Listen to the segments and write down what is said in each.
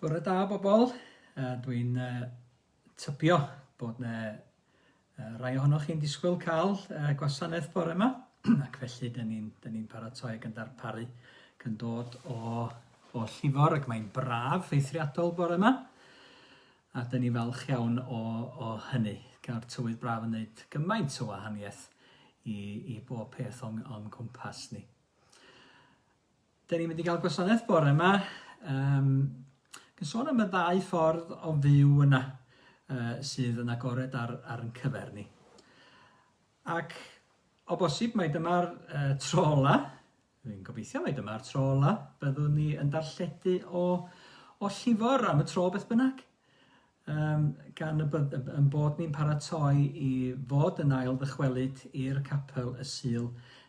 Bore da bobl, uh, dwi'n uh, tybio bod yna uh, rai ohonoch chi'n disgwyl cael uh, gwasanaeth bore yma, ac felly dyn ni'n ni, paratoi ac yn darparu gan dod o, o llifor ac mae'n braf eithriadol bore yma, a dyn ni falch iawn o, o hynny. Gawr tywydd braf yn gwneud gymaint o wahaniaeth i, i bob peth o'n, on cwmpas ni. Da ni'n mynd i gael gwasanaeth bore yma. Um, Gan sôn am y ddau ffordd o fyw yna uh, sydd yn agored ar, ar yn cyfer ni. Ac o bosib mae dyma'r uh, tro ola, fi'n gobeithio mae dyma'r tro ola, byddwn ni yn darlledu o, o llifor am y tro beth bynnag. Yym, gan y byd- y- yn bod ni'n paratoi i fod yn ail ddychwelyd i'r capel y Sul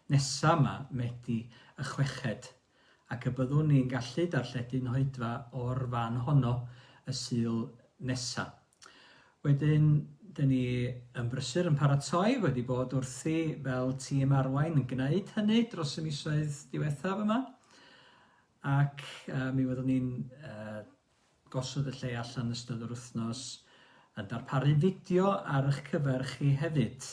nesa 'ma, Medi y Chweched, ac y byddwn ni'n gallu darlledu Nhroedfa o'r fan honno y Sul nesa. Wedyn, dyn ni yn brysur yn paratoi, wedi bod wrthi fel tîm arwain yn gwneud hynny dros y misoedd diwethaf yma, ac yy, mi fyddwn ni'n yy, Gosod y lle allan yn ystod yr wythnos, yn darparu fideo ar eich cyfer chi hefyd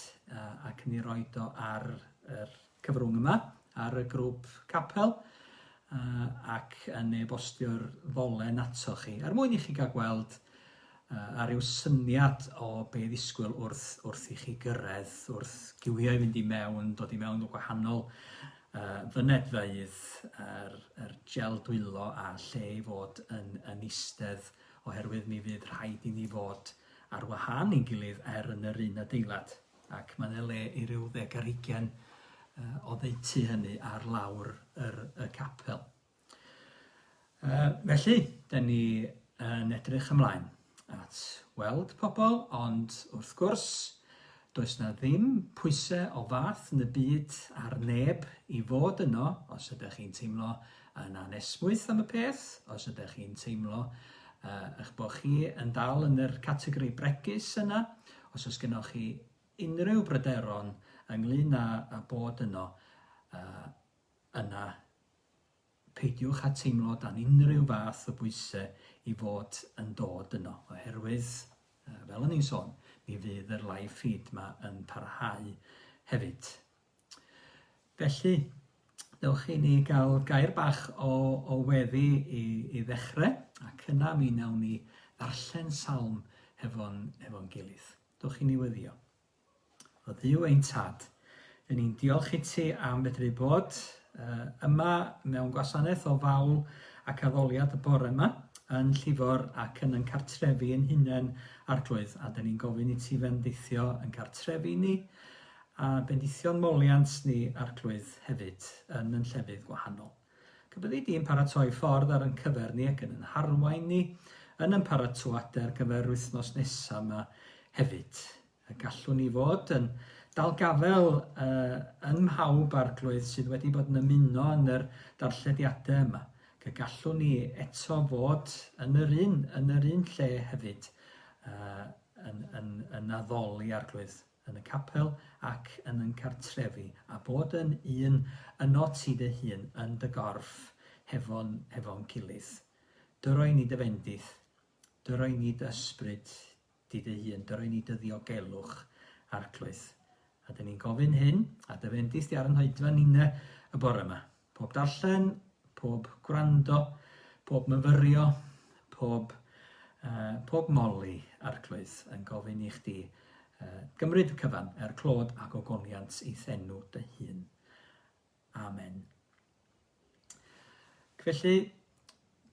ac yn ei roid o ar yr cyfrwng yma, ar y grŵp capel ac yn e-bostio'r ddolen ato chi er mwyn i chi gael gweld a rhyw syniad o be ddisgwyl wrth wrth i chi gyrraedd, wrth giwio i fynd i mewn, dod i mewn o gwahanol y fynedfeydd, yr yr gel dwylo a lle i fod yn yn istedd oherwydd mi fydd rhaid i ni fod ar wahân i'n gilydd er yn yr un adeilad ac mae yna le i ryw ddeg ar hugain yy oddeutu hynny ar lawr yr y capel. Uh, felly, da ni yn edrych ymlaen at weld pobl, ond wrth gwrs, does na ddim pwysau o fath yn y byd ar neb i fod yno os ydych chi'n teimlo yn anesmwyth am y peth, os ydych chi'n teimlo uh, eich bod chi yn dal yn yr categori bregus yna, os oes gennych chi unrhyw bryderon ynglyn â, â bod yno, uh, yna peidiwch â teimlo dan unrhyw fath o bwysau i fod yn dod yno, oherwydd, fel o'n i'n sôn, mi fydd yr live feed yma yn parhau hefyd. Felly, dewch i ni gael gair bach o, o weddi i, i ddechrau, ac yna mi wnawn ni ddarllen salm hefo'n hefo gilydd. Dewch i ni weddio. Oddiw ein tad. Ry'n ni'n diolch i ti am fedru bod uh, yma mewn gwasanaeth o fawl ac addoliad y bore yma yn llifor ac yn yn cartrefi yn hunain arglwydd a dyn ni'n gofyn i ti fendithio yn cartrefi ni a bendithio'n moliant ni arglwydd hefyd yn yn llefydd gwahanol. Pe byddi di yn paratoi ffordd ar yn cyfer ni ac yn yn harwain ni yn yn paratoade ar gyfer yr wythnos nesa yma hefyd, y gallwn ni fod yn dalgafel uh, yn mhawb arglwydd sydd wedi bod yn ymuno yn yr darllediadau yma. Y gallwn ni eto fod yn yr un, yn yr un lle hefyd, uh, yn, yn, yn addoli arglwydd. yn y capel ac yn yn cartrefi, a bod yn un yno ti dy hun yn dy gorff hefo'n hefo'n gilydd. Dy roi ni dy fendith, dy roi ni dy ysbryd di dy hun, dy roi ni dy ddiogelwch, Arglwydd. A dyn ni'n gofyn hyn, a dy fendith di ar yn hoedfa ninne y bore yma. Pob darllen, pob gwrando, pob myfyrio, pob, uh, pob moli arglwydd yn gofyn i chdi uh, gymryd y cyfan er clod ac ogoniant i thenw dy hun. Amen. Felly,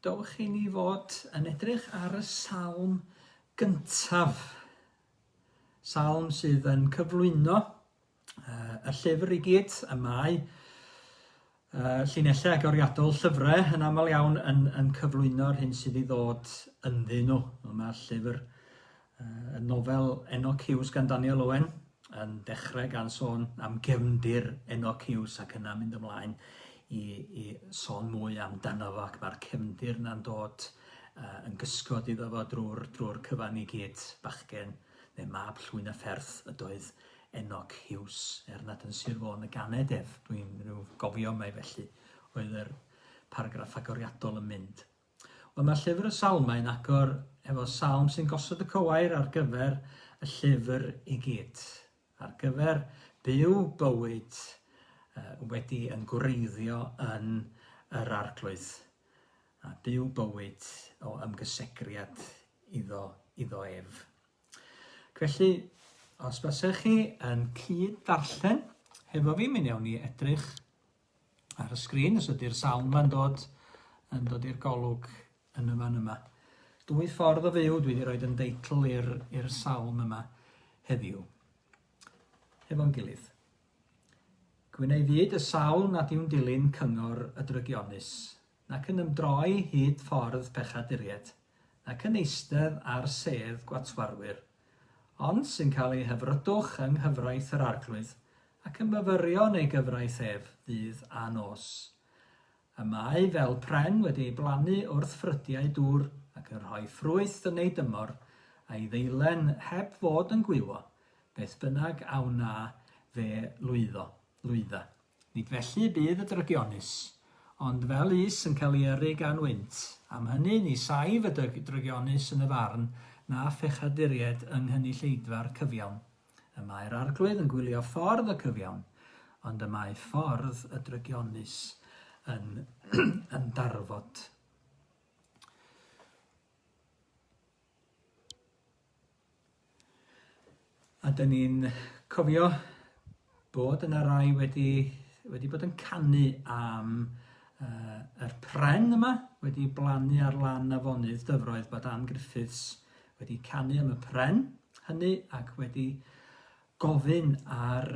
dowch i ni fod yn edrych ar y salm gyntaf. Salm sydd yn cyflwyno uh, y llyfr i gyd, y mae uh, llinellau agoriadol llyfrau yn aml iawn yn, yn cyflwyno'r hyn sydd i ddod ynddyn nhw. Mae'r llyfr, uh, y nofel Enoch Hughes gan Daniel Owen, yn dechrau gan sôn am gefndir Enoch Hughes ac yna mynd ymlaen i, i sôn mwy amdano fo ac mae'r cefndir yna'n dod uh, yn gysgod iddo fo drwy'r drwy cyfan i gyd bachgen neu mab llwyn y fferth ydoedd Enoch Huws, er nad yn Sir Fôn y ganed ef, dwi'n rhyw gofio mai felly oedd yr paragraff agoriadol yn mynd. Wel, mae llyfr y Salmau yn agor efo salm sy'n gosod y cywair ar gyfer y llyfr i gyd, ar gyfer byw bywyd wedi yn gwreiddio yn yr arglwydd, a byw bywyd o ymgysegriad iddo, iddo ef. Ac felly, os basech chi yn cyd darllen hefo fi, mi newn ni edrych ar y sgrin os ydy'r sawl ma'n dod yn dod i'r golwg yn y fan yma. Dwy ffordd o fyw, dwi wedi rhoi yn deitl i'r sawl yma heddiw. Hefo'n gilydd. Gwneud fyd y sawl nad yw'n dilyn cyngor y drygionus, Nac yn ymdroi hyd ffordd pechaduriaid, nac yn eistedd ar sedd gwatwarwyr, ond sy'n cael ei hyfrydwch yng nghyfraith yr Arglwydd, ac yn myfyrio yn ei gyfraith ef ddydd a nos. Y mae fel pren wedi ei blannu wrth ffrydiau dŵr, ac yn rhoi ffrwyth yn ei dymor, a'i ddeilen heb fod yn gwywo, beth bynnag a wna fe lwyddo, lwydda. Nid felly y bydd y drygionus, ond fel is yn cael ei yrru gan wynt, am hynny ni saif y drygionus yn y farn na phechaduriaid yng nghynulleidfa'r cyfiawn. Y mae'r Arglwydd yn gwylio ffordd y cyfiawn, ond y mae ffordd y drygionus yn ymdarfod. A dyn ni'n cofio bod yna rai wedi, wedi bod yn canu am uh, yr pren yma, wedi blannu ar lan afonydd dyfroedd bod Ann Griffiths wedi canu am y pren hynny ac wedi gofyn ar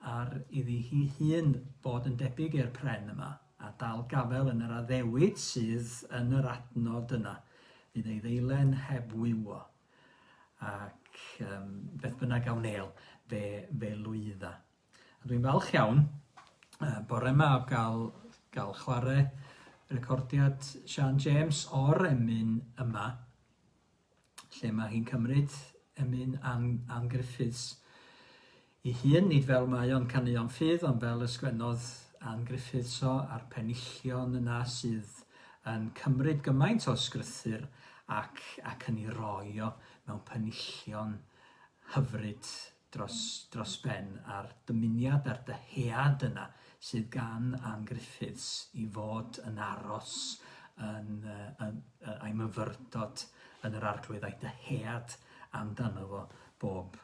ar iddi hi hun fod yn debyg i'r pren yma, a dal gafael yn yr addewid sydd yn yr adnod yna, fydd ei ddeilen heb wywo. Ac um, beth bynnag a wneil, fe, fe lwydda. A dwi'n falch iawn, uh, bore yma o gael, gael chwarae recordiad Sian James o'r emyn yma, lle mae hi'n cymryd emyn Ann, Ann Griffiths i hun, nid fel mae o'n caneuon ffydd, ond fel y sgwennodd Ann Griffiths o, a'r penillion yna sydd yn cymryd gymaint o sgrythyr ac, ac yn ei roi o mewn penillion hyfryd dros dros ben a'r dymuniad a'r dyhead yna sydd gan Ann Griffiths i fod yn aros yn yy yn yy a'i myfyrdod yn yr Arglwydd a'i dyhead amdano fo bob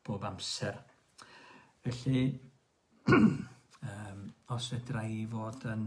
bob amser. Felly yym os fedra i fod yn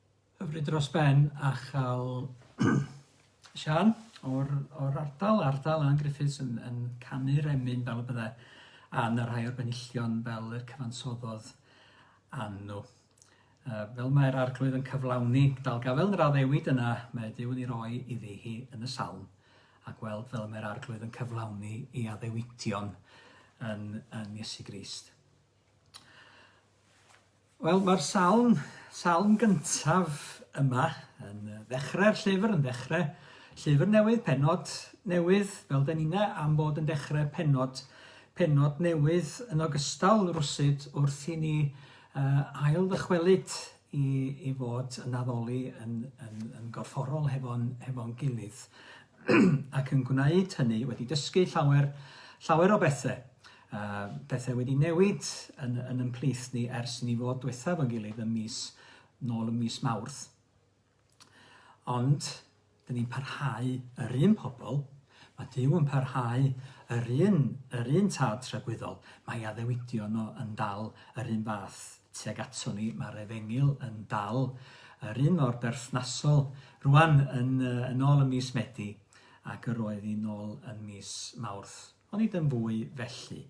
Hyfryd dros ben a chael Sian o'r, o'r ardal, ardal Ann Griffiths yn, yn canu'r emyn fel y bydde Ann a rhai o'r benillion fel y cyfansoddodd Ann nhw. Uh, fel mae'r arglwydd yn cyflawni dalgafel yn yr addewid yna, mae Dyw yn ei roi iddi hi yn y salm, a gweld fel mae'r arglwydd yn cyflawni ei addewidion yn, yn Iesu Grist. Wel, mae'r salm, salm gyntaf yma, yn ddechrau'r llyfr, yn ddechrau llyfr newydd, penod newydd, fel da ni'n am bod yn dechrau penod, penod newydd yn ogystal rwsyd wrth i ni uh, ail ddychwelyd i, i fod yn addoli yn, yn, yn gorfforol hefo'n hefo gilydd ac yn gwneud hynny wedi dysgu llawer, llawer o bethau. A pethau wedi newid yn, yn yn plith ni ers i ni fod diwethaf yn gilydd ym mis, nôl ym mis Mawrth. Ond, dyn ni'n parhau yr un pobl, mae Dyw yn parhau yr un, yr un tad tragwyddol, mae addewidio nhw yn dal yr un fath tuag ato ni, mae'r efengil yn dal yr un mor berthnasol rwan yn, yn ôl y mis Medi ac yr oedd hi'n ôl yn mis Mawrth. Ond nid yn fwy felly.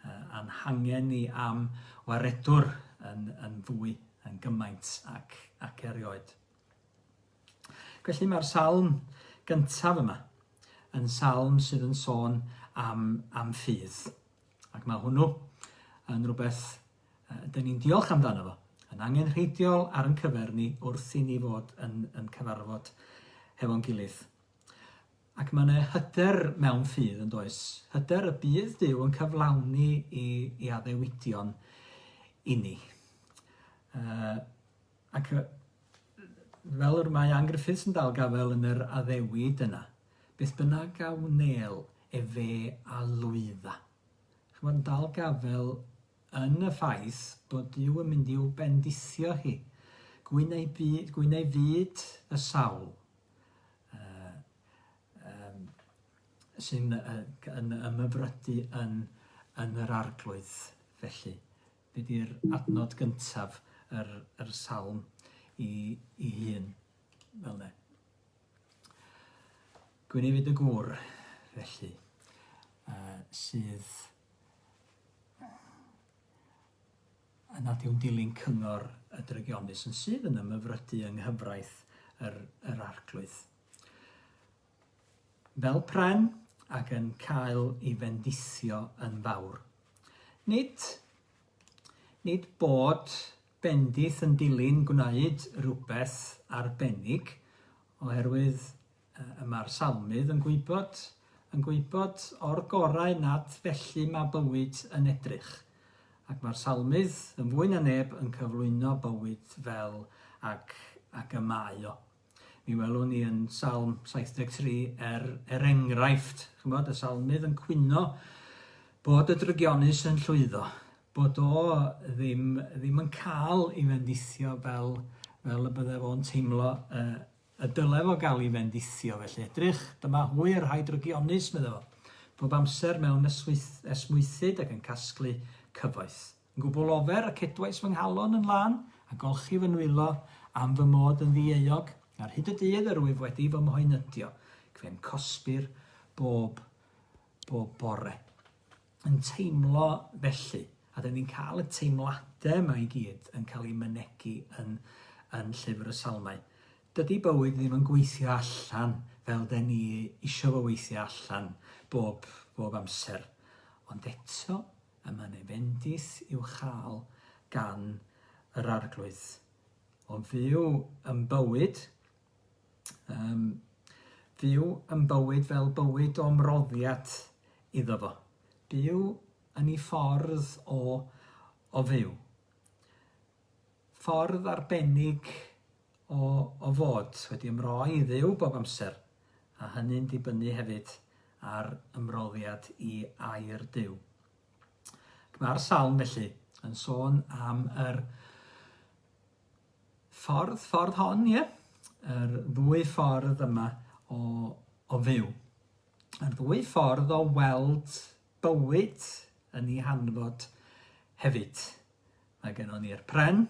A'n hangen ni am waredwr yn yn fwy, yn gymaint ac ac erioed. Ac felly mae'r salm gyntaf yma yn salm sydd yn sôn am am ffydd. Ac mae hwnnw yn rhywbeth uh, dyn ni'n diolch amdano fo, yn angenrheidiol ar yn cyfer ni wrth i ni fod yn, yn cyfarfod hefo'n gilydd. Ac mae yna hyder mewn ffydd, yn does, hyder y bydd Duw yn cyflawni i, i addewidion inni. Uh, ac fel yr mae Ann Griffiths yn dal gafael yn yr addewid yna, beth bynnag a wnel efe a lwydda. Chymod, yn dal gafael yn y ffaith bod Dyw yn mynd i'w bendithio hi. Gwyn ei, byd, gwyn ei fyd y sawl, uh, um, sy'n uh, yn ymyfrydu yn, yn yr arglwydd felly. Be di'r adnod gyntaf yr, yr salm i, i hun fel ne. Gwynefyd y gŵr felly uh, sydd a nad yw'n dilyn cyngor y drygionus yn sydd yn ymhyfrydu yng nghyfraith yr, yr Arglwydd. Fel pren ac yn cael ei fendithio yn fawr. Nid, nid bod bendith yn dilyn gwneud rhywbeth arbennig, oherwydd Y mae'r Salmydd yn gwybod, yn gwybod o'r gorau nad felly mae bywyd yn edrych. Ac mae'r Salmydd, yn fwy na neb, yn cyflwyno bywyd fel ac, ac y mae o. Mi welwn ni yn Salm 73 er, er enghraifft, chymod, y Salmydd yn cwyno bod y drygionus yn llwyddo, bod o ddim, ddim yn cael ei fendithio fel, fel y byddai fo'n teimlo uh, Y dylai fo gael ei fendithio, felly edrych, dyma hwy y rhai drygionus, medda fo, bob amser mewn esmwythyd ac yn casglu cyfoeth. Yn gwbl ofer, y cedwais fy nghalon yn lân, a golchi fy nwylo am fy mod yn ddieuog, ar hyd y dydd yr wyf wedi fy mhoenydio, cfe'n cosbi'r bob, bob bore. yn teimlo felly, a dyn ni'n cael y teimladau yma i gyd yn cael ei mynegi yn, yn llyfr y salmau. Dydy bywyd ddim yn gweithio allan fel dyn ni eisiau fo weithio allan bob, bob amser. Ond eto, y mae'n ei fendith i'w chael gan yr arglwydd. Ond fyw yn bywyd Um, fyw yn bywyd fel bywyd o ymroddiad iddo fo. Byw yn ei ffordd o, o fyw. Ffordd arbennig o, o fod wedi ymroi i ddew bob amser, a hynny'n dibynnu hefyd ar ymroddiad i air dew. Mae'r salm felly yn sôn am yr Ffordd, ffordd hon, ie? Yr ddwy ffordd yma o, o fyw. Yr ddwy ffordd o weld bywyd yn ei hanfod hefyd. Mae gennon ni'r pren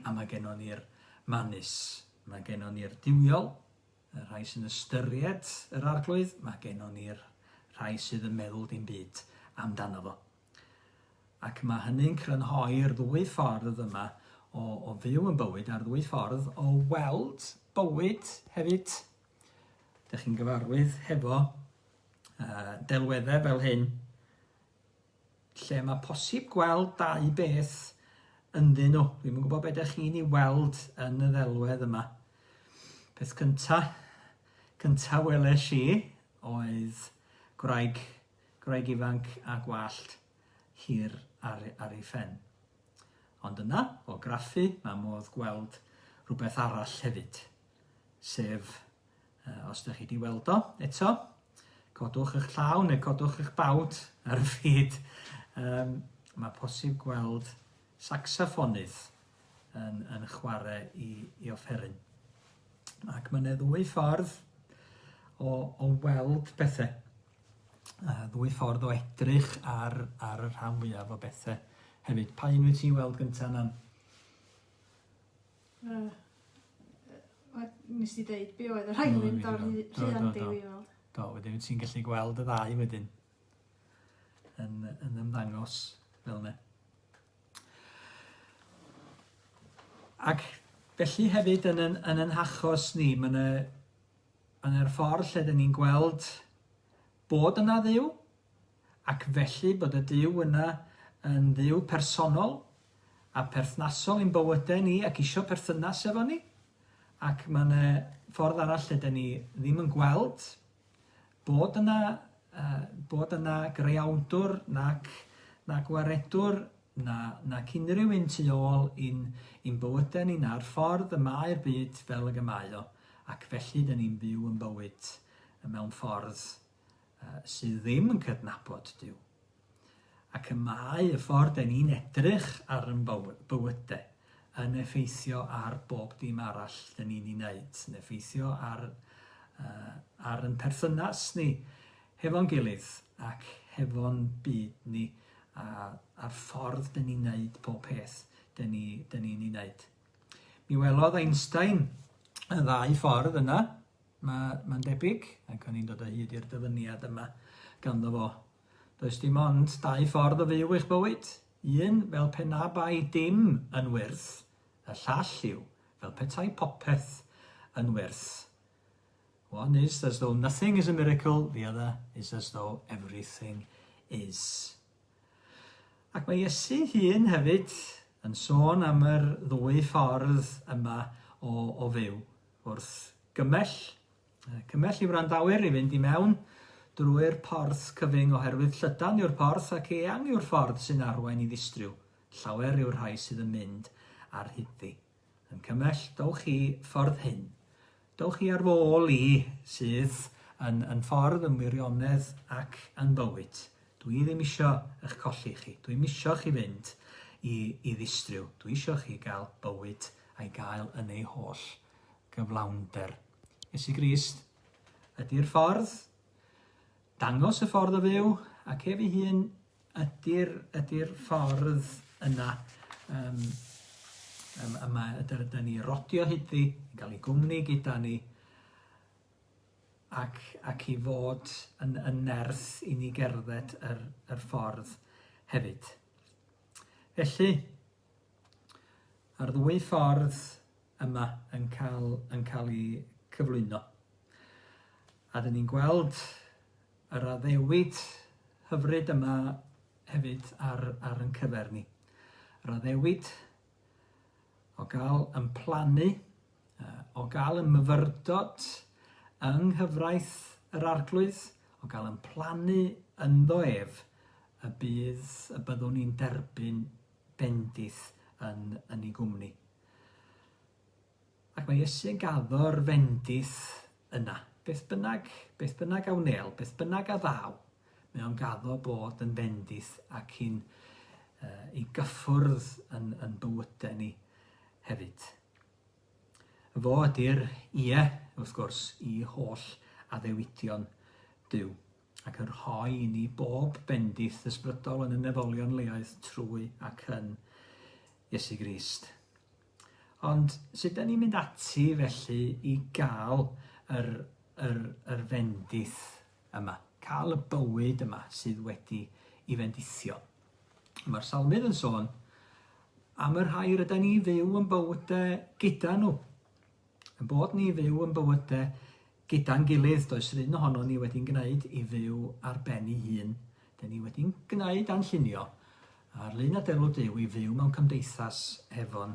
a mae gennon ni'r manus. Mae gennon ni'r diwiol, y rhai sy'n ystyried yr arglwydd, mae gennon ni'r rhai sydd yn meddwl dim byd amdano fo. Ac mae hynny'n crynhoi'r ddwy ffordd yma o, o fyw yn bywyd a'r ddwy ffordd o weld bywyd hefyd. Dych chi'n gyfarwydd hefo uh, delweddau fel hyn, lle mae posib gweld dau beth ynddyn nhw. Dwi'n yn gwybod beth ydych chi'n ei weld yn y ddelwedd yma. Peth cyntaf, cyntaf weles i oedd gwraig gwraig ifanc â gwallt hir ar ar ei phen. Ond yna, o graffu, mae modd gweld rhywbeth arall hefyd, sef, uh, os ydych chi wedi weld o eto, codwch eich llaw neu codwch eich bawd ar y fyd, um, mae posib gweld saxoffonydd yn, yn chwarae i, i offeryn. Ac mae yna ddwy ffordd o, o weld pethau. yy ddwy ffordd o edrych ar ar y rhan fwyaf o bethe hefyd. Pa un wyt ti'n weld gynta Nan? Uh, nes i ddeud be oedd y rhain yn mynd o'r rhian di i weld. Do, wedyn wyt ti'n gallu gweld y ddau wedyn yn, yn ymddangos fel yna. Ac felly hefyd yn yn, yn yn hachos ni, mae yna Yn yr ffordd lle dŷn ni'n gweld bod yna Dduw, ac felly bod y Duw yna yn Dduw personol a pherthnasol i'n bywydau ni ac isio perthynas efo ni, ac mae yna ffordd arall lle dŷn ni ddim yn gweld bod yna, bod yna Greawdwr nac, nac Waredwr na, nac unrhyw un tu ôl i'n i'n bywyde ni na'r ffordd y mae'r byd fel ag y mae o, ac felly dyn ni'n byw yn bywyd mewn ffordd uh, sydd ddim yn cydnabod Dyw. Ac y mae y ffordd dyn ni'n edrych ar yn bywyde yn effeithio ar bob dim arall dyn ni'n ei wneud, yn effeithio ar, uh, ar yn perthynas ni hefo'n gilydd ac hefo'n byd ni a a'r ffordd dyn ni'n neud pob peth dyn ni dyn ni'n ei wneud. Mi welodd Einstein y ddau ffordd yna, mae mae'n debyg, ac o'n i'n dod o hyd i'r dyfyniad yma ganddo fo. Does dim ond dau ffordd o fyw eich bywyd, un fel pe na bai dim yn wyrth, y llall yw fel petai popeth yn wyrth. One is as though nothing is a miracle, the other is as though everything is. Ac mae Iesu hun hefyd yn sôn am yr ddwy ffordd yma o, o fyw. Wrth gymell, cymell i wrandawyr i fynd i mewn drwy'r porth cyfyng oherwydd llydan yw'r porth ac eang yw'r ffordd sy'n arwain i ddistriw. Llawer yw'r rhai sydd yn mynd ar hyd ddi. Yn cymell, dowch chi ffordd hyn. Dowch chi ar fôl i, sydd yn, yn ffordd, yn wirionedd ac yn bywyd. Dw i ddim isio eich colli chi. Dw i'm isio chi fynd i, i ddistryw. Dw i isio chi gael bywyd a'i gael yn ei holl gyflawnder. Iesu Grist ydy'r ffordd. Dangos y ffordd o fyw ac ef ei hun Ydy'r, ydy'r ffordd yna, um, um, yma ydyn ydy ni rodio hyddi, yn cael ei gwmni gyda ni, ac, ac i fod yn, yn nerth i ni gerdded yr, yr ffordd hefyd. Felly, mae'r ddwy ffordd yma yn cael, yn cael ei cyflwyno. A dyn ni'n gweld Yr addewid hyfryd yma hefyd ar ar yn cyfer ni. Yr addewid o gael yn plannu, o gael yn myfyrdod yng nghyfraith yr Arglwydd, o gael yn plannu ynddo ef, y bydd y byddwn ni'n derbyn bendith yn yn ei gwmni. Ac mae Iesu'n gaddo'r fendith yna. Beth bynnag, beth bynnag a wnel, beth bynnag a ddaw, mae o'n gaddo bod yn fendith ac i'n uh, i gyffwrdd yn, yn bywydau ni hefyd. Fo ydy'r ie, wrth gwrs, i holl addewidion Dyw, ac yn rhoi i ni bob bendith ysbrydol yn y nefolion leoedd trwy ac yn Iesu Grist. Ond sut dan ni'n mynd ati felly i gael yr, yr, yr fendith yma, cael y bywyd yma sydd wedi i fendithio? Mae'r salmydd yn sôn am y rhai rydyn ni fyw yn bywydau gyda nhw, yn bod ni fyw yn bywydau Gyda'n gilydd, does run ohonon ni wedi'n gwneud i fyw ar ben ei hun. Dŷn ni wedi'n gwneud a'n llunio ar lun adeilwd Duw i fyw mewn cymdeithas hefo'n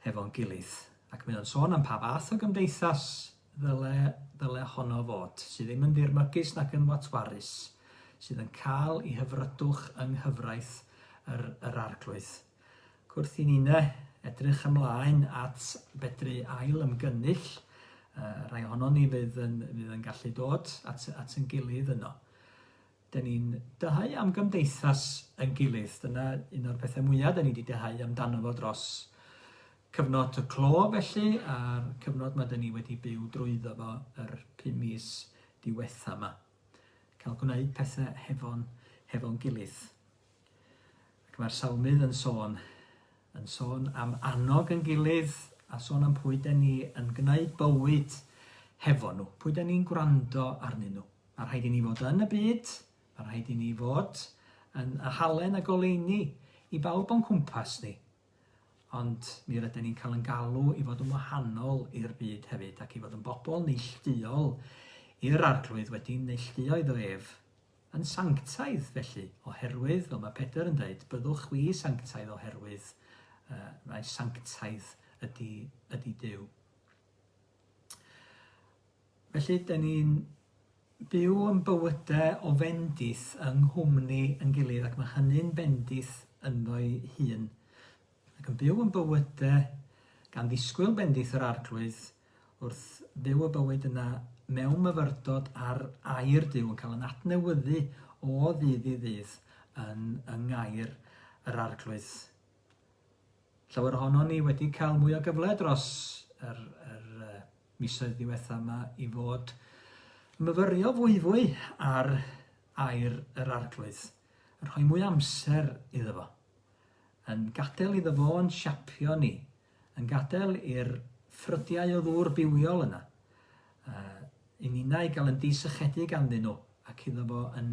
hefo'n gilydd. Ac mae o'n sôn am pa fath o gymdeithas ddyle ddyle honno fod, sydd ddim yn ddirmygus nac yn watwarus, sydd yn cael ei hyfrydwch yng nghyfraith yr yr Arglwydd. Gwrthunine, edrych ymlaen at fedru ail ymgynnull, rhai ohonon ni fydd yn, fydd yn gallu dod at, at yn gilydd yno. Dyn ni'n dyhau am gymdeithas yn gilydd. Dyna un o'r pethau mwyaf dyn ni wedi dyhau amdano fo dros cyfnod y clo felly, a'r cyfnod mae dyn ni wedi byw drwyddo fo yr pum mis diwetha yma. Cael gwneud pethau hefo'n hefo gilydd. Ac mae'r Salmydd yn sôn, yn sôn am annog yn gilydd a sôn am pwy den ni yn gwneud bywyd hefo nhw, pwy den ni'n gwrando arnyn nhw. Mae rhaid i ni fod yn y byd, mae rhaid i ni fod yn y halen a goleini i bawb o'n cwmpas ni. Ond mi rydyn ni'n cael yn galw i fod yn wahanol i'r byd hefyd ac i fod yn bobl neillduol i'r arglwydd wedi neillduo iddo ef Yn sanctaidd, felly, oherwydd, fel mae Pedr yn dweud, byddwch chwi sanctaidd oherwydd uh, mae sanctaidd ydy, ydy Dyw. Felly, da ni'n byw yn bywydau o fendith yng nghwmni yn gilydd ac mae hynny'n bendith ynddo'i hun. ac yn byw yn bywyde gan ddisgwyl bendith yr Arglwydd wrth fyw y bywyd yna mewn myfyrdod ar air Duw, yn cael yn adnewyddu o ddydd i ddydd yn yng ngair yr Arglwydd. Llawer ohonon ni wedi cael mwy o gyfle dros yr, yr uh, misoedd ddiwetha yma i fod myfyrio fwyfwy ar air yr Arglwydd, yn rhoi mwy amser iddo fo. Yn gadael iddo fo'n siapio ni. Yn gadael i'r ffrydiau o ddŵr bywiol yna i ninnau gael yn disychedu ganddyn nhw, ac iddo fo yn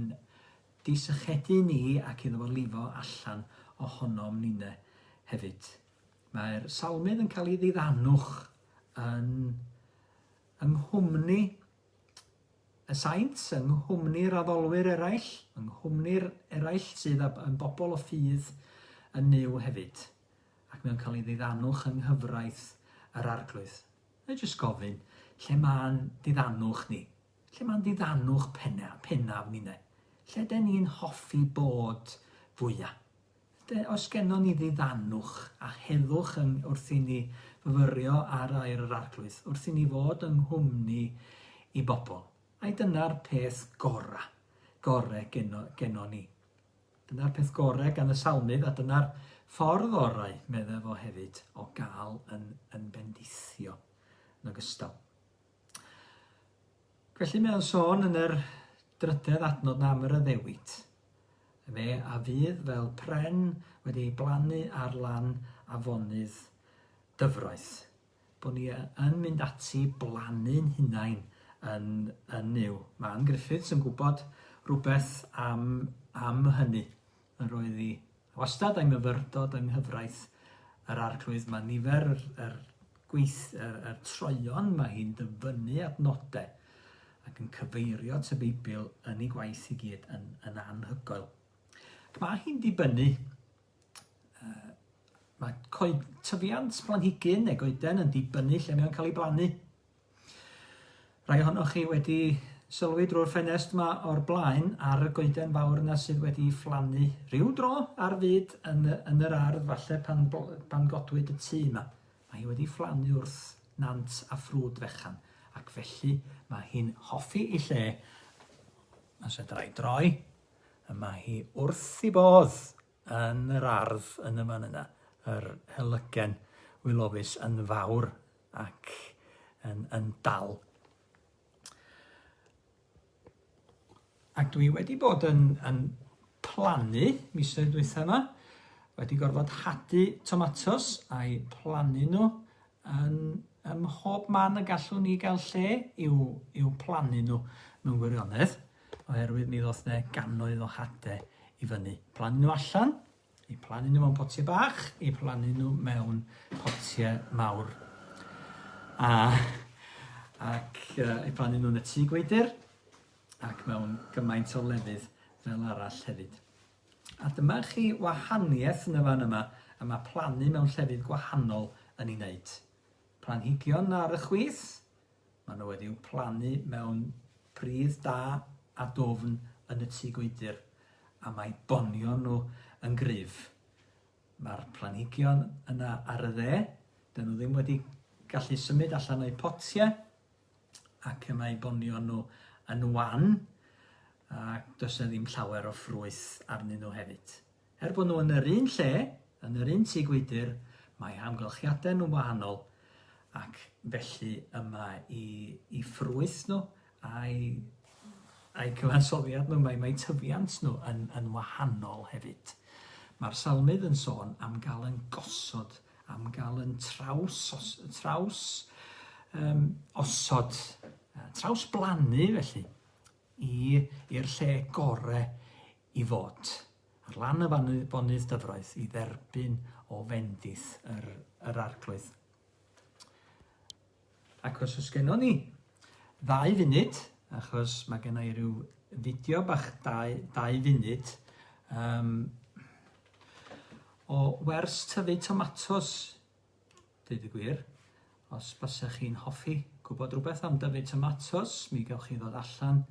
disychedu ni ac iddo fo lifo allan ohonom ninne hefyd. Mae'r salmydd yn cael ei ddiddanwch yn yng nghwmni y Saints, yng nghwmni'r addolwyr eraill, yng nghwmni'r eraill sydd â yn bobl o ffydd yn Nuw hefyd, ac mae o'n cael ei ddiddanwch yng nghyfraith yr Arglwydd. Mae jyst gofyn, lle mae'n ddiddanwch ni? Lle mae'n ddiddanwch penna, pennaf ni ne? Lle den ni'n hoffi bod fwyaf? Felly, os gennon ni ddiddanwch a heddwch yn wrth i ni fyfyrio ar air yr Arglwydd, wrth i ni fod yng nghwmni i bobl, ai dyna'r peth gorau, gore geno, geno ni? Dyna'r peth gore gan y salmydd, a dyna'r ffordd orau, meddai fo hefyd, o gael yn, yn bendithio yn ogystal. Felly mae o'n sôn yn yr drydedd adnod na am yr addewid. Fe a fydd fel pren wedi ei blannu ar lan afonydd dyfroedd. Bod ni yn mynd ati i blannu'n hunain yn, yn Mae Ann Griffiths yn gwybod rhywbeth am, am hynny. Yr oedd hi wastad a'i myfyrdod yng nghyfraith yr Arglwydd. Mae nifer yr, yr, gweith, yr, yr troeon mae hi'n dyfynnu at nodau ac yn cyfeirio at y Beibl yn ei gwaith i gyd yn, yn anhygoel. Ac mae hi'n dibynnu uh, mae coed, tyfiant planhigyn neu goeden yn dibynnu lle mae'n cael ei blannu. Rhai ohonoch chi wedi sylwi drwy'r ffenest yma o'r blaen ar y goeden fawr yna sydd wedi fflannu rhyw dro ar fyd yn, yn yr ardd falle pan, pan godwyd y tŷ yma. Mae hi wedi fflannu wrth nant a ffrwd fechan ac felly mae hi'n hoffi ei lle. Os edrai droi, y mae hi wrth i bodd yn yr ardd yn y fan yna, yr helygen wilofus yn fawr ac yn, yn dal. Ac dwi wedi bod yn, yn plannu misoedd dwytha yma, wedi gorfod hadu tomatos a'i plannu nhw Yn ym mhob man y gallwn ni gael lle i'w, i'w plannu nhw mewn gwirionedd, oherwydd mi ddoth ne gannoedd o hade i fyny. Plannu nhw allan, i plannu nhw mewn potiau bach, i plannu nhw mewn potiau mawr. A, ac uh, i plannu nhw'n y tŷ gweidir, ac mewn gymaint o lefydd fel arall hefyd. A dyma chi wahaniaeth yn y fan yma y mae plannu mewn llefydd gwahanol yn ei wneud. Planhigion ar y chwith, maen nhw wedi'u plannu mewn pridd da a dwfn yn y tŷ gwydr, a mae bonion nhw yn gryf. Mae'r planhigion yna ar y dde, dyn nhw ddim wedi gallu symud allan o'u potiau, ac y mae bonion nhw yn wan ac does yna ddim llawer o ffrwyth arnyn nhw hefyd. Er bod nhw yn yr un lle, yn yr un tŷ gwydr, mae hamgylchiadau nhw'n wahanol ac felly yma i, i ffrwyth nhw a'i, a'i cyfansoddiad nhw, mae, mae tyfiant nhw yn, yn wahanol hefyd. Mae'r salmydd yn sôn am gael yn gosod am gael yn traws, os, traws um, osod, traws blannu felly, i'r lle gore i fod. Ar lan y bonydd dyfroedd i dderbyn o fendith yr, yr arglwydd. Ac os oes gennon ni ddau funud, achos mae genna i ryw fideo bach dau, dau funud, um, o wers tyfu tomatos, dweud y gwir, os basa chi'n hoffi gwybod rhywbeth am dyfu tomatos, mi gawch chi ddod allan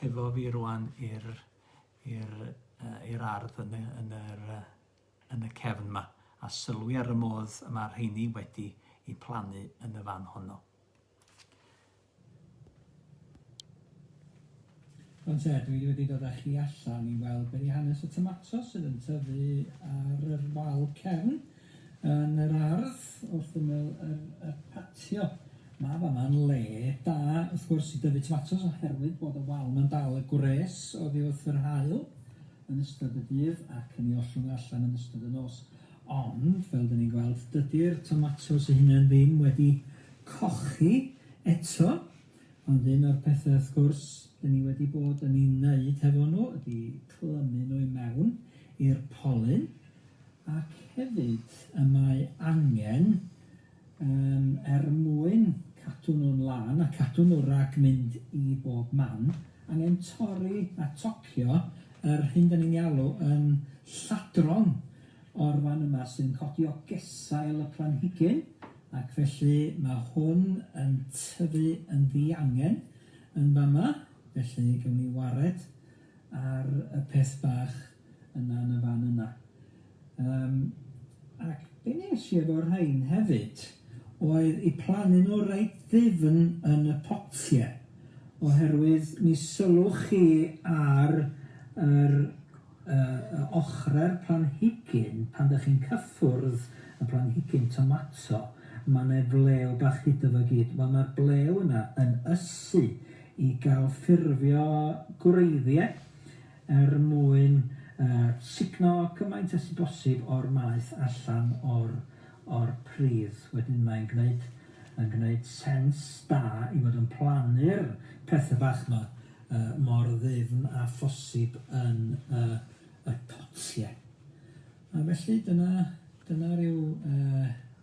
hefo fi rwan i'r i'r uh, i'r ardd yn y, yn yr uh, yn y cefn 'ma a sylwi ar y modd y mae'r rheini wedi i plannu yn y fan honno. Ond te, dwi wedi dod â chi allan i weld be' 'di hanes y tomatos sydd yn tyfu ar yr wal cefn yn yr ardd wrth ymyl yr y patio. Mae fama'n le da wrth gwrs i dyfu tomatos oherwydd bod y wal 'ma'n dal y gwres oddi wrth yr haul. yn ystod y dydd ac yn ei ollwng allan yn ystod y nos. Ond, fel dyn ni'n gweld, dydy'r tomatos ei hunain ddim wedi cochi eto, ond un o'r pethau, wrth gwrs, dyn ni wedi bod yn ei wneud hefo nhw ydy clymu nhw i mewn i'r polyn, ac hefyd y mae angen Yym er mwyn cadw nhw'n lân a cadw nhw rhag mynd i bob man, angen torri a tocio yr hyn 'dan ni'n ei alw yn lladron o'r fan yma sy'n codi o gesail y planhigyn ac felly ma' hwn yn tyfu yn ddiangen yn fama felly gewn ni wared ar y peth bach yna yn y fan yna. Yym ac be' nes i efo rhain hefyd oedd i plannu nhw reit ddifn yn y potie oherwydd mi sylwch chi ar yr yy ochre'r planhigyn pan dych chi'n cyffwrdd y planhigyn tomato ma' 'ne flew bach iddo fo gyd wel ma'r blew yna yn ysu i gael ffurfio gwreiddiau er mwyn sugno cymaint â sy bosib o'r maeth allan o'r pridd. Wedyn mae'n gwneud sens da i fod yn plannu'r pethe bach 'ma mor ddyfn â phosib yn y potie. A felly dyna ryw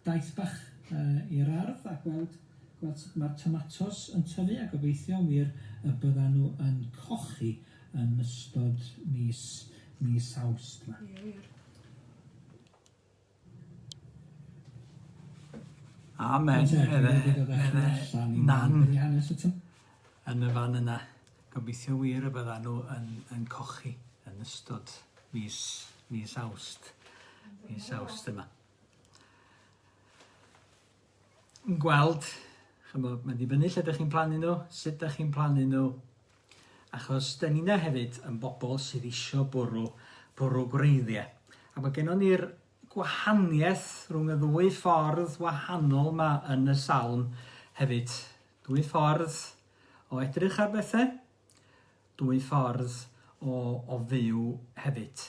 daith bach i'r ardd a gweld sut mae'r tomatos yn tyfu a gobeithio'n wir y byddan nhw yn cochi yn ystod mis mis Awst 'ma. Ie wir. Amen. Nan. Yn y fan yna. Gobeithio wir y bydda nhw yn, yn cochi yn ystod mis, mis awst. Mis awst yma. yn gweld, chymod, mae'n dibynnu lle ydych chi'n plannu nhw, sut ydych chi'n plannu nhw, achos da ni'n hefyd yn bobl sydd eisiau bwrw, bwrw gwreiddiau. A mae gennym ni'r gwahaniaeth rhwng y ddwy ffordd wahanol yma yn y salm hefyd. Dwy ffordd o edrych ar bethau, dwy ffordd o, o fyw hefyd.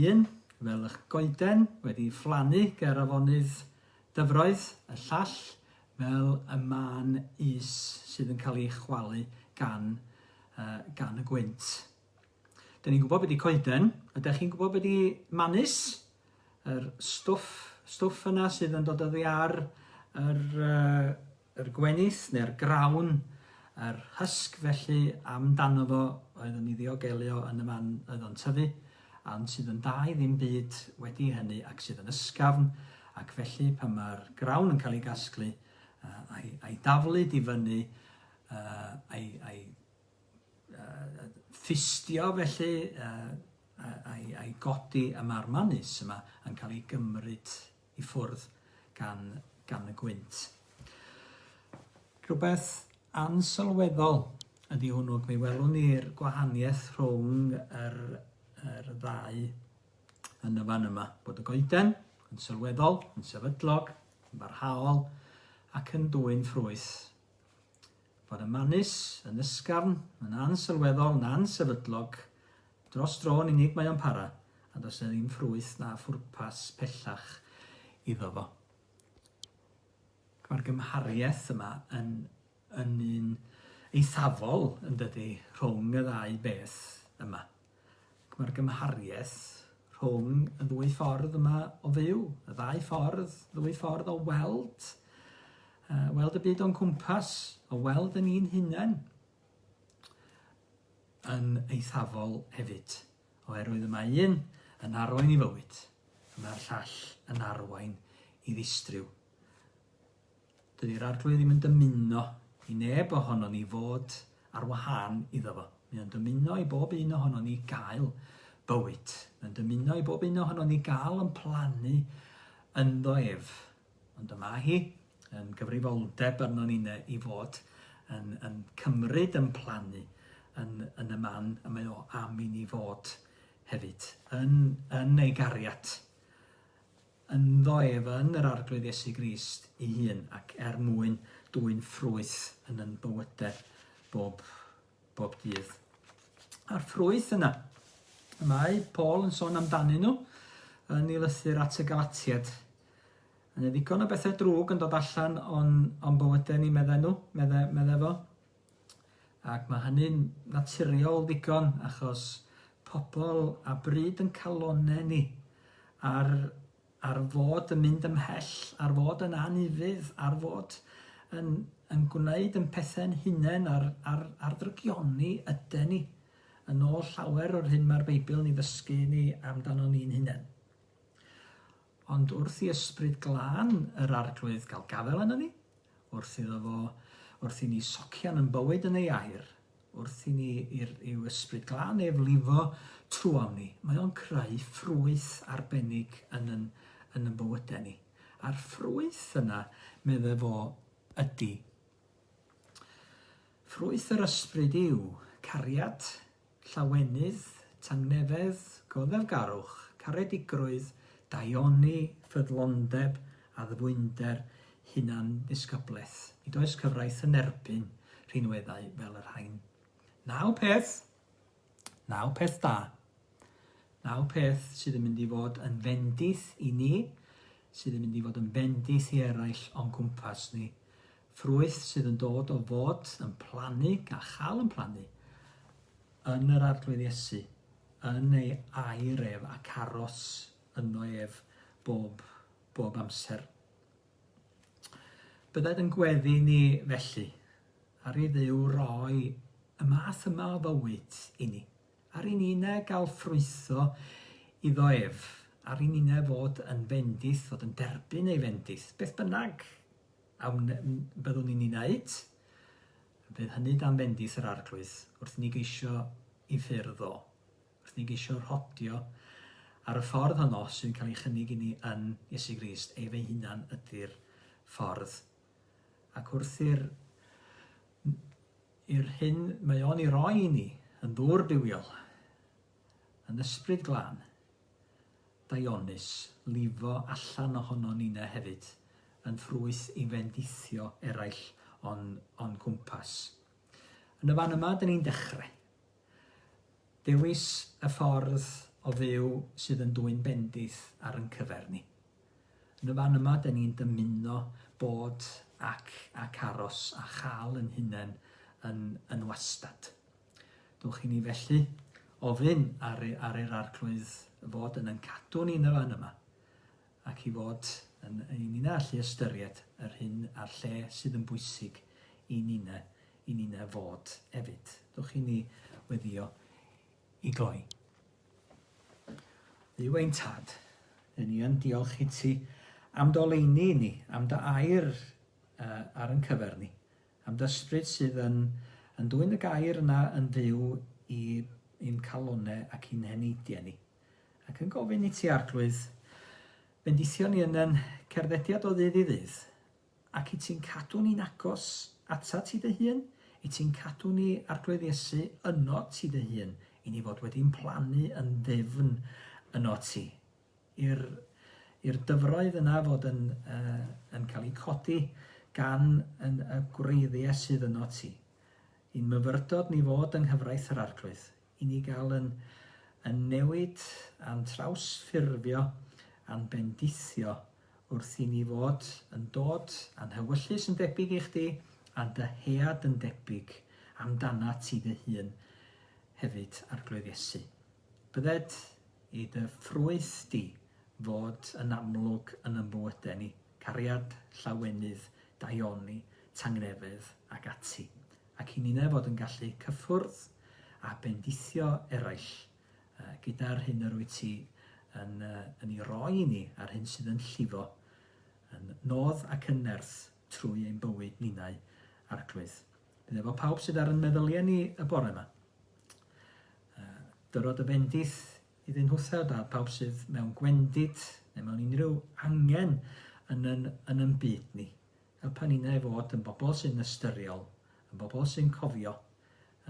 Un, fel ych goeden, wedi fflanu ger afonydd dyfroedd, y llall, fel y mân is sydd yn cael ei chwalu gan, uh, gan y gwynt. Dyn ni'n gwybod beth i coeden, ydych chi'n gwybod beth i manus? Yr stwff, stwff yna sydd yn dod oddi ar yr uh, Yr gwenith neu'r grawn, yr hysg felly am dano fo oedd yn ei ddiogelu o yn y man oedd o'n tyfu, ond sydd yn dau ddim byd wedi hynny ac sydd yn ysgafn, ac felly pan mae'r grawn yn cael ei gasglu, a'i, a'i daflu di fyny, a'i, a'i ffustio felly, a'i, a'i godi y marmanus yma yn cael ei gymryd i ffwrdd gan gan y gwynt. Rhywbeth ansylweddol ydy hwnnw, ac mi welwn ni'r gwahaniaeth rhwng yr, yr ddau yn y fan yma, bod y goeden yn sylweddol, yn sefydlog, yn barhaol, ac yn dwyn ffrwyth fod y manys yn ysgafn, yn ansylweddol, yn ansefydlog, dros dro yn unig mae o'n para, a does 'na ddim ffrwyth na phwrpas pellach iddo fo. Mae'r gymhariaeth yma yn, yn un eithafol, yn dydy, rhwng y ddau beth yma. Mae'r gymhariaeth rhwng y ddwy ffordd yma o fyw, y ddau ffordd, ddwy ffordd o weld, uh, weld y byd o'n cwmpas, o weld yn un hunain, yn eithafol hefyd, oherwydd y mae un yn arwain i fywyd, y mae'r llall yn arwain i ddistryw. Dydi'r Arglwydd ddim yn dymuno i neb ohonon ni fod ar wahân iddo fo. Mae o'n dymuno i bob un ohonon ni gael bywyd. Mae'n dymuno i bob un ohonon ni gael yn plannu ynddo ef. Ond y mae hi yn gyfrifoldeb arnon ni ne, i fod yn, yn cymryd yn plannu yn, yn y man y mae o am i ni fod hefyd, yn, yn ei gariad. ynddo ef yn yr Arglwydd Iesu Grist ei hun, ac er mwyn dwyn ffrwyth yn yn bywyde bob, bob dydd. A'r ffrwyth yna, y mae Paul yn sôn amdanyn nhw yn ei lythyr at y Galatiad. Yn y ddigon o bethau drwg yn dod allan o'n, o'n bywydau ni, meddai nhw, meddai, meddai fo. Ac mae hynny'n naturiol ddigon achos pobl a bryd yn calonnau ni, ar ar fod yn mynd ymhell, ar fod yn anufudd, ar fod yn yn gwneud yn pethau'n hunain a'r a'r a'r ddrygioni yden ni, yn ôl llawer o'r hyn mae'r Beibl yn ei ddysgu ni amdano ni'n hunain. Ond wrth i Ysbryd Glân yr Arglwydd gael gafael arnon ni, wrth iddo fo, wrth i ni socian yn bywyd yn ei air, wrth i ni i'r, i'w Ysbryd Glân ef lifo trwom ni, mae o'n creu ffrwyth arbennig yn yn, yn yn bywydau ni. A'r ffrwyth yna, medde fo, ydy. Ffrwyth yr ysbryd yw cariad, Llawenydd, Tangnefedd, Goddefgarwch, Caredigrwydd, Daioni, Ffyddlondeb, Addfwynder, Hunandisgyblaeth. Nid oes cyfraith yn erbyn rhinweddau fel y rhain. Naw peth, naw peth da, naw peth sydd yn mynd i fod yn fendith i ni, sydd yn mynd i fod yn fendith i eraill o'n cwmpas ni. Ffrwyth sydd yn dod o fod yn plannu a chael yn plannu yn yr Arglwydd Iesu, yn ei air ef ac aros yno ef bob, bob amser. Bydded yn gweddi ni felly, ar i ddiw roi y math yma o fywyd i ni, ar i nine gael ffrwytho iddo ef, ar i nine fod yn fendith, fod yn derbyn ei fendith, beth bynnag A wn i byddwn ni'n ei wneud, bydd hynny dan fendith yr Arglwydd, wrth i ni geisio i ffyrdd o, wrth i ni geisio rhodio ar y ffordd honno sy'n cael ei chynnig i ni yn Iesu Grist, ef ei hunan ydy'r ffordd. Ac wrth i'r i'r hyn mae o'n ei roi i ni yn ddŵr bywiol, yn ysbryd glân, Dionys, lifo allan ohonon nina hefyd, yn ffrwyth i fendithio eraill o'n, o'n cwmpas. Yn y fan yma, dyn ni'n dechre. Dewis y ffordd o fyw sydd yn dwyn bendith ar yn cyfer ni. Yn y fan yma, dyn ni'n dymuno bod ac, ac aros a chael yn hunain yn, yn wastad. Dowch i ni felly ofyn ar, ar yr arglwydd fod yn yn cadw ni'n y fan yma, ac i fod yn, i ni'n allu ystyried yr hyn a'r lle sydd yn bwysig i ni'n i ni'n fod efyd. Dowch i ni weddio i gloi. Dduw ein tad, yn ni yn diolch i ti am doleini i ni, am dy air uh, ar yn cyfer ni, Am d'ysbryd sydd yn yn dwyn y gair yna yn fyw i i'n calone ac i'n heneidie ni, ac yn gofyn i ti Arglwydd bendithio ni yn yn cerddediad o ddydd i ddydd, ac i ti'n cadw ni'n agos atat ti dy hun, i ti'n cadw ni Arglwydd Iesu yno ti dy hun, i ni fod wedi'n plannu yn ddyfn yno ti, i'r i'r dyfroedd yna fod yn yn cael eu codi gan yn y gwreiddiau sydd yno ti. I'n myfyrdod ni fod yng nghyfraith yr Arglwydd, i ni gael yn yn newid a'n trawsffurfio a'n bendithio wrth i ni fod yn dod a'n hewyllys yn debyg i chdi a'n dyhead yn debyg amdanat ti dy hun hefyd, Arglwydd Iesu. Byddet i dy ffrwyth di fod yn amlwg yn y mwyde ni, cariad, llawenydd, daioni, tangnefedd ac ati, ac i ninne fod yn gallu cyffwrdd a bendithio eraill gyda'r hyn yr wyt ti yn yn ei roi i ni a'r hyn sydd yn llifo yn nodd ac yn nerth trwy ein bywyd ninnau, Arglwydd. Bydd efo pawb sydd ar yn meddyliau ni y bore yma. Uh, dyrod y bendith i ddyn hwtheb a pawb sydd mewn gwendid neu mewn unrhyw angen yn yn, yn yn byd ni. Helpa ni na i fod yn bobl sy'n ystyriol, yn bobl sy'n cofio,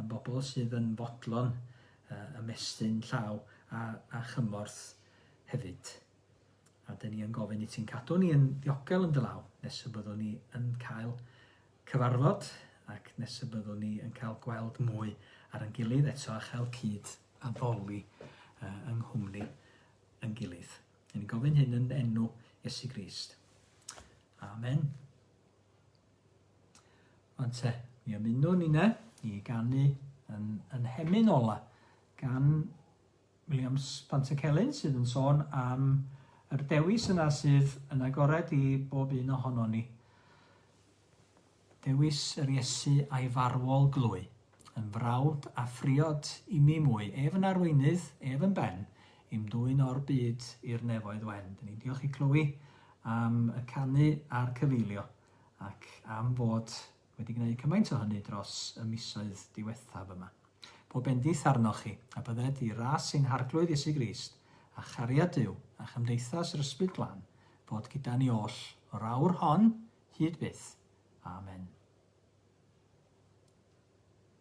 yn bobl sydd yn fodlon uh, ymestyn llaw a, a chymorth hefyd. A dyn ni yn gofyn i ti'n cadw ni yn ddiogel yn dy law nes y byddwn ni yn cael cyfarfod ac nes y byddwn ni yn cael gweld mwy ar yn gilydd eto a chael cyd addoli uh, yng nghwmni yn gilydd. Yn gofyn hyn yn enw Iesu Grist. Amen. Ond te, mi ymunwn ni ne, i ganu yn, yn hemyn ola gan Williams Pantycelyn sydd yn sôn am yr dewis yna sydd yn agored i bob un ohonon ni. Dewis yr Iesu a'i farwol glwy, yn frawd a phriod i mi mwy, ef yn arweinydd, ef yn ben, i'm dwyn o'r byd i'r nefoedd wen. Dyn ni'n diolch i Chloe am y canu a'r cyfeilio ac am fod wedi gwneud cymaint o hynny dros y misoedd diwethaf yma. Bo bendith arnoch chi, a bydded i ras ein Harglwydd Iesu Grist, a chariad Duw, a chymdeithas yr Ysbryd Glân, fod gyda ni oll, o'r awr hon, hyd byth. Amen.